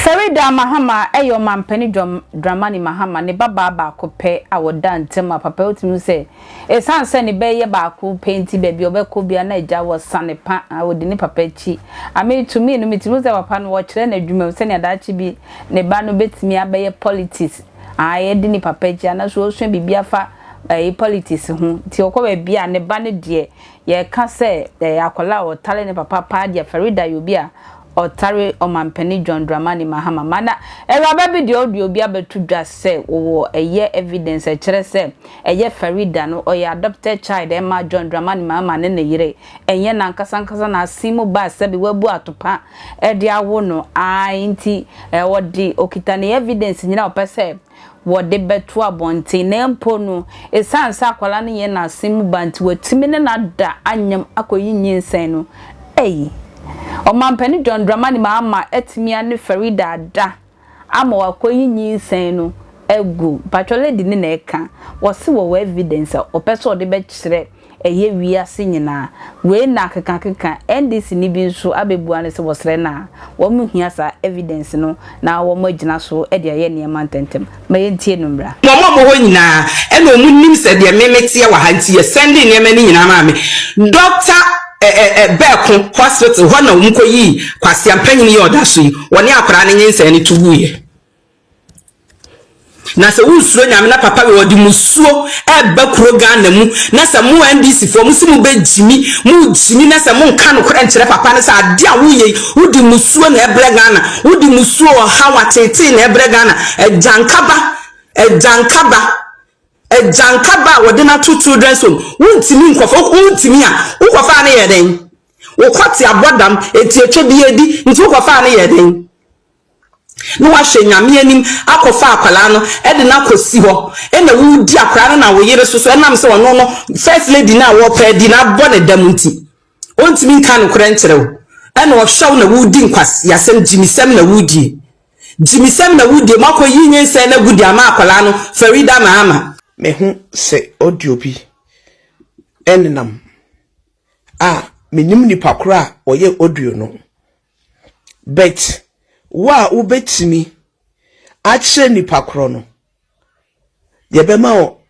Faridah Mahama yɛ ɔmampanin dramani Mahama ne babaa baako pɛ a ɔda ntam a papa tumi hu sɛ Esiane sɛ ne ba yi yɛ baako pɛ nti, baabi a ɔbɛkɔ biara na agya wɔ sane pa a odi ne papa akyi. A Mitumi no, mitumi hu sɛ papa no, ɔkyerɛ n'adwumam sɛnea daakye bi ne ba no betumi abɛyɛ politics, ae, adi ne papa akyi, anaasɛ ɔresua biribi afa, ae, politics ho. Enti ɔkɔ baabi a, ne ba no deɛ, yɛka sɛ, ae, akwadaa a ɔtare ne papa paa deɛ, Farida yɛ obi a Ɔtare Ɔmampanin John Dramani Mahama ma na awuraba bi deɛ ɔde obi abɛto dwa sɛ ɔwɔ ɛyɛ evidence a ɛkyerɛ sɛ ɛyɛ Faridah no ɔyɛ adopted child a ɛma John Dramani Mahama ne ne yere ɛnyɛ n'ankasa ankasa n'asen mu ba a sɛbe wabu atopa de awo no ae nti ɔde ɔkita ne evidence nyinaa a ɔpɛ sɛ wɔde bɛto abɔnten na mpo no, esiane sɛ akwadaa no yɛ n'asen mu ba nti, wɔatumi ne no ada anyem akɔyi nyinsɛn no. Ei! Ɔmampanin John Dramani Mahama atumi ane Faridah ada ama wakɔyi nyinsɛn no agu. Mpakyɛ lady no na ɛka. Wɔse wɔwɔ evidence a wɔpɛ sɛ wɔde bɛkyerɛ. Ɛyɛ wiase nyinaa. Wei na akekakeka NDC ni bi nso abɛbua no sɛ wɔsrɛ no a, wɔn hia saa evidence no na wɔn agyina so de ayɛ nneɛma ntɛntɛm. Ma yɛntie no mmra. Wɔn a wɔwɔ hɔ nyinaa na wɔn nim sɛ deɛ me meteɛ wɔ ha nti yɛ sɛndee nneɛma no nyinaa maa me. Doctor ɛ ɛ ɛ Bɛɛko hospital hɔ na wɔn kɔyii Kwasea mpanyini yi a ɔda so yi, wɔne akwadaa no nyinsɛn no to guiɛ. Na sɛ wonsuro nyame na papa wei ɔde musuo ɛba kuro Ghana mu na sɛ mo NDC foɔ mo se mo bɛ gyimi mo gyimi na sɛ mo nka nokorɛ nkyerɛ papa no sɛ adeɛ a wo yei wo de musuo na ɛbrɛ Ghana wo de musuo ɔhaw atetee na ɛbrɛ Ghana agyankaba agyankaba agyankaba a wɔde no ato children's home wontimi nkɔfa wontimi a wokɔfa no yɛ dɛn wokɔte abɔdam etiatwa bi edi nti wokɔfa no yɛ dɛn na wahwɛ Nyame anim akɔfa akwadaa no de no akɔsi hɔ na woredi akwadaa no na wo yere so so ɛnam sɛ ɔno no first lady no a wɔpɛ adi no abɔ ne dam nti ɔntumi nka nokorɛ nkyerɛ wo ɛna ɔhwɛ wo na woredi nkwaseasɛm gyimisɛm na woredie gyimisɛm na woredie moakɔ yi nyinsɛn no agu de ama akwadaa no Farida Mahama Mehu sɛ audio bi ɛnenam a menim nipa korɔ a ɔyɛ audio no But wo a wobɛtumi akyerɛ nipa korɔ no, deɛ ɛbɛma wo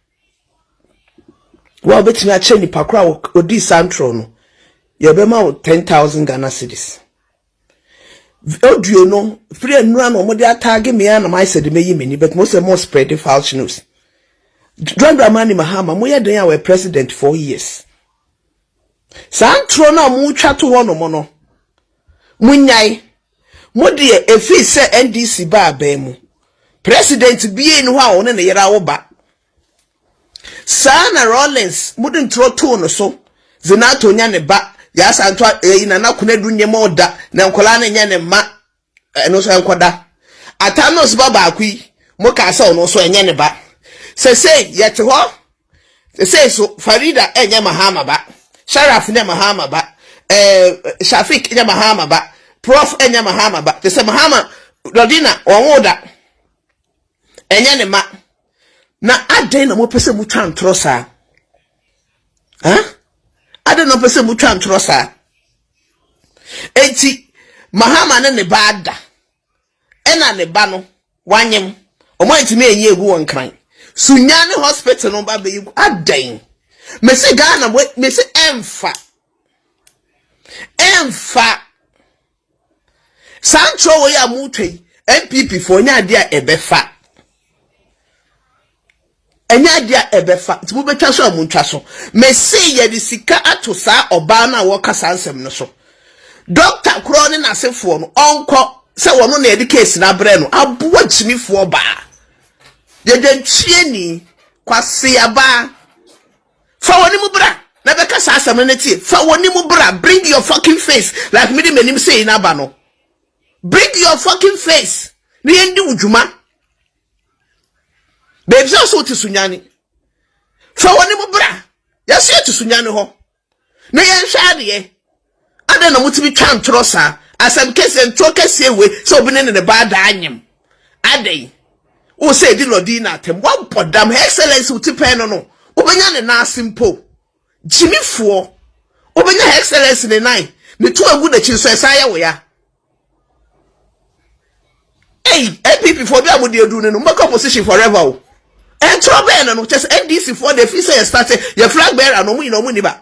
wo a wobɛtumi akyerɛ nipa korɔ a ɔdii saa ntorɔ no, deɛ ɛbɛma wo 10,000 Ghana cedis. Audio no, firi anura na wɔde ataage me a na mayɛ sɛ de mɛyi m'ani, but mo sɛ mo spread false news. Dwandwama ne Mahama, moyɛ dɛn a wɔyɛ president four years? Saa ntorɔ no a moretwa to hɔnom no, monnyae. Mo deɛ, ɛfiri sɛ NDC baa abɛn mu, president biara nni hɔ a ɔne ne yere awo ba. Saa na Rawlings mode ntorɔ too no so, Zenato nyɛ ne ba, Yaa Santo a, ɛyi Nana Konadu nyɛ ma ɔda, na nkwadaa no nyɛ ne mma. ɛno nso ɛnkɔda atanos ba baako yi mo kaa sɛ ɔno nso ɛnyɛ ne ba sɛsei yɛte hɔ sɛsei so farida ɛnyɛ mahama ba sharaf nyɛ mahama ba ɛɛ eh, shafik nyɛ mahama ba prof ɛnyɛ mahama ba te sɛ mahama lɔdina wɔn wo da Ɛnyɛ ne ma. Na adɛn na mopɛ sɛ motwa ntorɔ saa? Huh? Adɛn na mopɛ sɛ motwa ntorɔ saa? Enti Mahama ne ne ba ada. Ɛna ne ba no wanyem. Ɔmo antumi anyi egu wɔn kran. Sunya ne hospital no ba bɛyi gu. Adɛn? Mesi Ghana mesi ɛmfa. Ɛmfa. Saa nkyerɛwee a motwa yi, NPP fo, ɛnyɛ adeɛ a ɛbɛfa. Ɛnyɛ adeɛ a ɛbɛfa. Nti mobɛtwa so a montwa so. Mese yɛde sika ato saa ɔbaa no a wɔka saa nsɛm no so. Dɔkta korɔ ne n'asefoɔ no, ɔnkɔ sɛ wɔno na yɛde case no abrɛ no. Aboa gyimifoɔ baa. Yɛdwantwie ni. Kwase abaa. Fa w'anim bra na bɛka saa asɛm no ne tie. Fa w'anim bra, bring your fucking face like mede m'anim sei no aba no. Bring your fucking face na yɛndi wo dwuma. Bɛbisa so wote sunyane. Fa w'anim bra, yɛso yɛte sunyane hɔ na yɛnhwɛ adeɛ. Adɛn na motumi twa ntorɔ saa? Asɛm kɛseɛ, ntorɔ kɛseɛ wei sɛ obi ne ne ba ada anyem. Adɛn? Wo sɛ ɛdi Lordina atɛm? Woabɔ dam, Her Excellency wo ti pɛn no no, wobɛnya ne nan ase mpo. Gyimifoɔ, wobɛnya Her Excellency ne nan, ne to agu n'akyi nso ɛsan yɛ wo ya. Ei, NPP foɔ, berɛ a mode aduru no no, mobɛkɔ opposition forever o. Ntorɔ bɛn no no, kyerɛ sɛ NDC foɔ deɛ ɛfiri sɛ yɛstate, yɛ flag bearer no, wɔn nyinaa wɔn nni ba.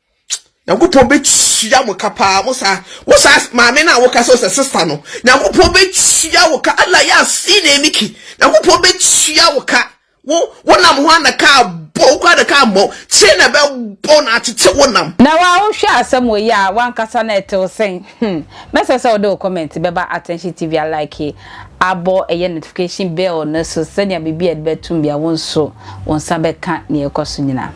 nyankopɔn bɛtua mo ka paa mo saa wo saa maame no a woka sɛ sɛ sista no nyankopɔn bɛtua wo ka ala yɛ afi na emiki nyankopɔn bɛtua wo ka wo wonam ho ana ka abɔ wo kora na ka mmɔ kyerɛ na ɛbɛbɔ na atete wo nam na wa wohwɛ asɛm wɔ yi a wankasa na ɛtew sɛn hmm mɛsɛ sɛ wode wo comment bɛba attention tv a like abɔ ɛyɛ notification bell no so sɛnea biribi a ɛde bɛtum bia wo nso wo nsa bɛka nea ɛkɔ so nyinaa